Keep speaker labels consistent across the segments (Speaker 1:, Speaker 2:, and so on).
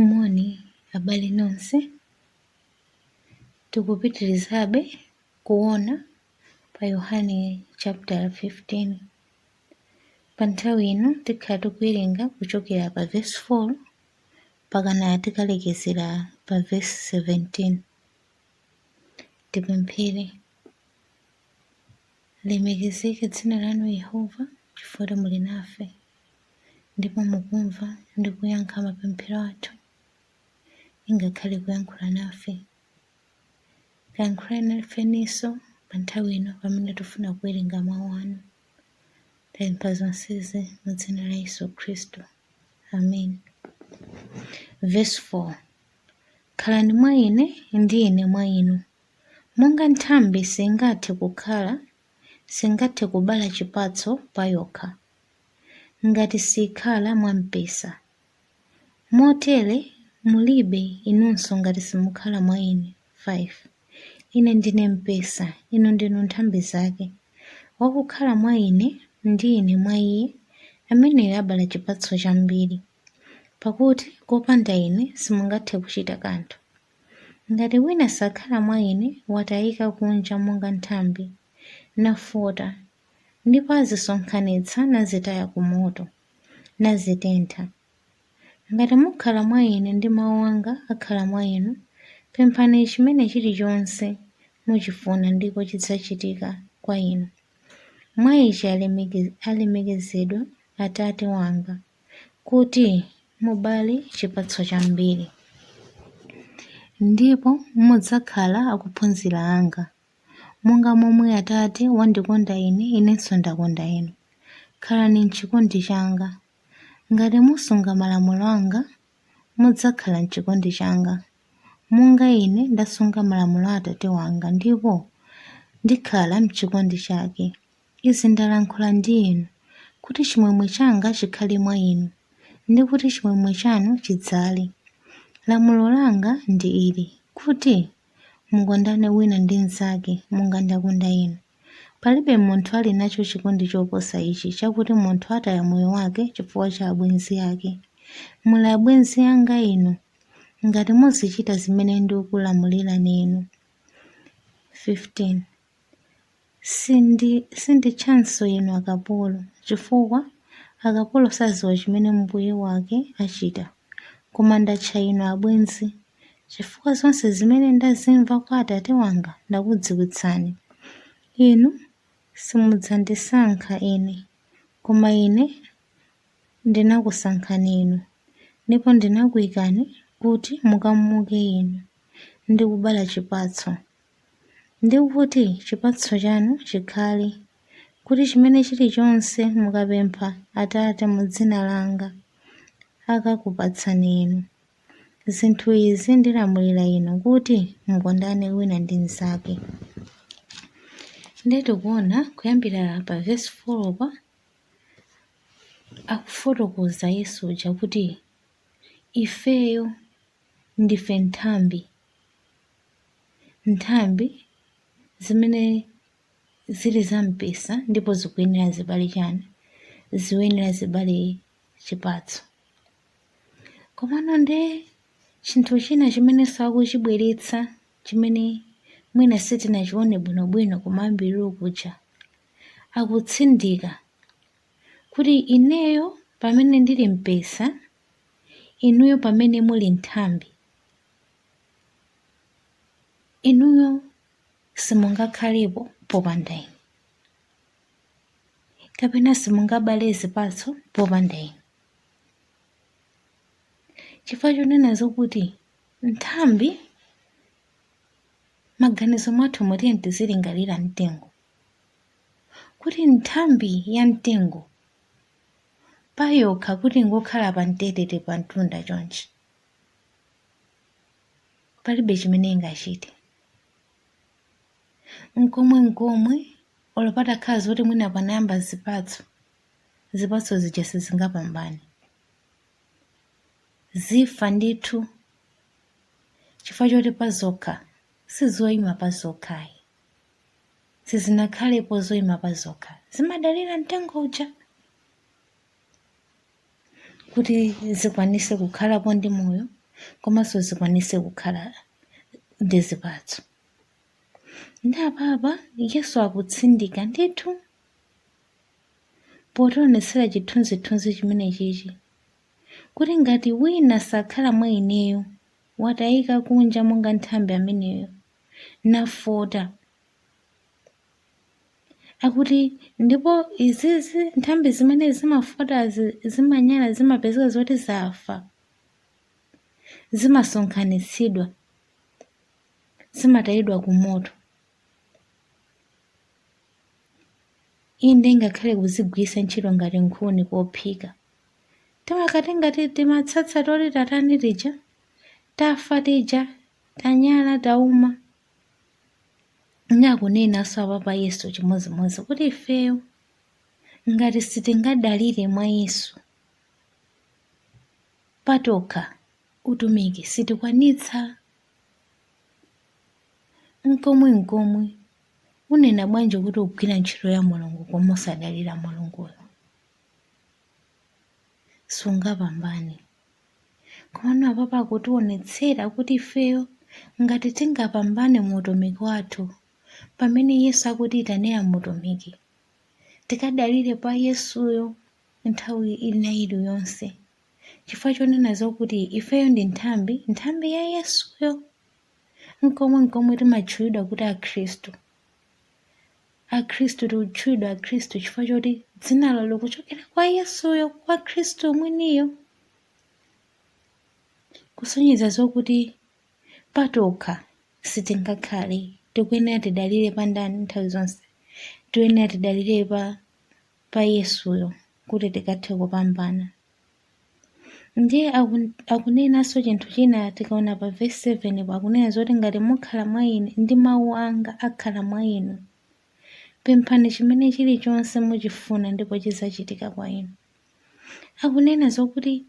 Speaker 1: Moni abale nonse, tikupitirizabe kuona pa Yohane chaputala 15. Pa nthawi ino tikhala tikuwerenga kuchokera pa vesi 4 mpakana tikalekezera pa vesi 17. Tipemphere. Lilemekezeke dzina lanu Yehova, chifukwa muli nafe, ndipo mukumva ndi kuyankha mapemphero athu. Ingakhale kuyankhula nafe. Kayankhulani nafenso pa nthawi ino pamene tifuna kuwerenga mawu anu. Tapempha zonsezi mu dzina la Yesu Khristu. Amen. Vesi 4. Khalani mwa ine ndi ine mwa inu, Monga nthambi singathe kukhala, singathe kubala chipatso payokha, ngati siikhala mwa mpesa, motere mulibe inunso ngati simukhala mwa Ine. 5, Ine ndine mpesa, inu ndinu nthambi zake, wakukhala mwa Ine, ndi Ine mwa iye, ameneyo abala chipatso chambiri, pakuti kopanda Ine simungathe kuchita kanthu. Ngati wina sakhala mwa Ine, watayika kunja monga nthambi, nafota, ndipo azisonkhanitsa nazitaya kumoto, nazitentha. Ngati mukhala mwa Ine ndi mawu anga akhala mwa inu, pemphani chimene chilichonse muchifuna ndipo chidzachitika kwa inu. Mwa ichi alemekezedwa Atate wanga. kuti mubale chipatso chambiri. Ndipo mudzakhala akuphunzira anga. Monga momwe Atate wandikonda Ine, Inenso ndakonda inu. Khalani m'chikondi changa. Ngati musunga malamulo anga, mudzakhala m'chikondi changa. Monga Ine ndasunga malamulo a Atate wanga ndipo ndikhala m'chikondi chake. Izi ndalankhula ndi inu, kuti chimwemwe changa chikhale mwa inu, ndi kuti chimwemwe chanu chidzale. Lamulo langa ndi ili, kuti, mukondane wina ndi mnzake, monga ndakonda inu. Palibe munthu ali nacho chikondi choposa ichi, chakuti munthu ataya moyo wake chifukwa cha abwenzi ake. Muli abwenzi anga inu, ngati muzichita zimene ndikulamulirani inu. 15. Sinditchanso inu akapolo, chifukwa akapolo sadziwa chimene mbuye wake achita. Koma ndatcha inu abwenzi, chifukwa zonse zimene ndazimva kwa Atate wanga ndakudziwitsani. Inu simudzandisankha ine, koma ine ndinakusankhani inu, ndipo ndinakuikani kuti mukamuke inu ndi kubala chipatso. ndi kuti chipatso chanu chikhale, kuti chimene chilichonse mukapempha Atate mu dzina langa, akakupatsani inu. Zinthu izi ndilamulira inu kuti mukondane wina ndi mnzake. Ndiye tikuona kuyambira pa vesi 4 pa akufotokoza Yesu uja kuti ifeyo ndife nthambi Nthambi zimene zili za mpesa ndipo zikuyenera zibale chani? Zikuyenera zibale chipatso. Komano nde chinthu china chimenenso akuchibweretsa chimene mwina sitinachione bwinobwino kumayambiriro kuja, akutsindika kuti ineyo pamene ndili mpesa, inuyo pamene muli nthambi. Inuyo simungakhalepo popanda ine, kapena simungabale zipatso popanda ine. Chifukwa chonena zokuti nthambi maganizo mwathu mu tiyeni tizilingalira mtengo kuti nthambi ya mtengo payokha kuti ingokhala pa mtetete pa mtunda chonchi palibe chimene ingachite nkomwe nkomwe olo patakhala zoti mwina panayamba zipatso zipatso zija sizingapambane zifa ndithu chifukwa choti pazokha sizoyima pazokhayi sizinakhalepo zoyima pazokha zimadalira mtengo uja kuti zikwanise kukhalapo ndi moyo komanso zikwanise kukhala ndi zipatso. Nde apapa Yesu akutsindika ndithu potionetsera chithunzithunzi chimenechichi kuti ngati wina sakhala mwa ineyo watayika kunja monga nthambi ameneyo nafota. Akuti ndipo izizi nthambi zimene zimafota zimanyala zimapezeka zoti zafa zimasonkhanitsidwa zimatayidwa ku moto inde ngakhale kuzigwiritsa ntchito ngati nkhuni kophika timakhala ngati timatsatsa toti tatani tija tafa tija tanyala tauma Ndi akunenanso apapa Yesu chimodzimodzi kuti ifeyo ngati sitingadalire mwa Yesu patokha utumiki sitikwanitsa nkomwe nkomwe unena bwanji kuti ugwira ntchito ya mulungu koma osadalira mulunguyo sungapambane Komano apapa akutionetsera kuti ifeyo ngati tingapambane mu utumiki wathu pamene Yesu akutiyitanira mu utumiki, tikadalire pa Yesuyo nthawi ina iliyonse chifukwa chonena zokuti ifeyo ndi nthambi, nthambi ya Yesuyo. Nkomwe nkomwe timatchulidwa kuti Akhristu. Akhristu tikutchulidwa Akhristu chifukwa choti dzinalo likuchokera kwa Yesuyo, kwa Khristu mwiniyo. Kusonyeza zokuti patokha sitingakhale, tikuyenera tidalire pa ndani nthawi zonse? Tikuyenera tidalire pa pa Yesuyo kuti tikathe kupambana. Ndiye akunenanso chinthu china tikaona pa vesi 7 po akunena zoti ngati mukhala mwa ine ndi mawu anga akhala mwa inu, pemphani chimene chilichonse muchifuna ndipo chidzachitika kwa inu. Akunena zokuti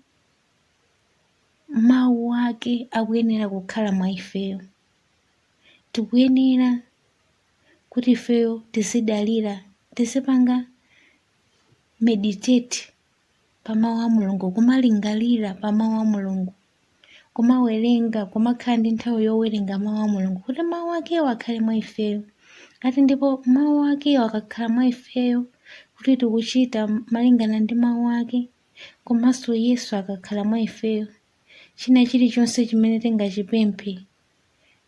Speaker 1: mawu ake akuyenera kukhala mwa ifeyo. Tikuyenera kuti ifeyo tizidalira, tizipanga meditate pa mawu a Mulungu, kumalingalira pa mawu a Mulungu, kumawerenga, kumakhala ndi nthawi yowerenga mawu a Mulungu kuti mawu akewo akhale mwa ifeyo. Ati ndipo mawu akewo akakhala mwa ifeyo kuti tikuchita malingana ndi mawu ake, komanso Yesu akakhala mwa ifeyo, china chilichonse chimene tingachipemphe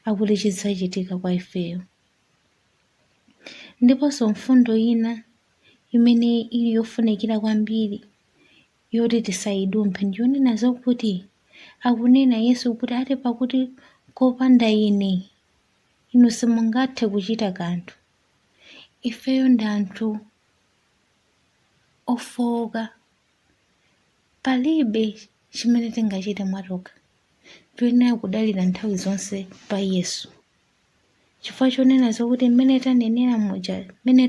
Speaker 1: akuti chidzachitika kwa ifeyo. Ndiponso mfundo ina imene ili yofunikira kwambiri yoti tisayidumphe ndi yonena zokuti akunena Yesu kuti ati pakuti kopanda ine inu simungathe kuchita kanthu. Ifeyo ndi anthu ofowoka Palibe chimene tingachite mwatokha. Tiyenera kudalira nthawi zonse pa Yesu. Chifukwa chonena zokuti mmene tanenera muja, mmene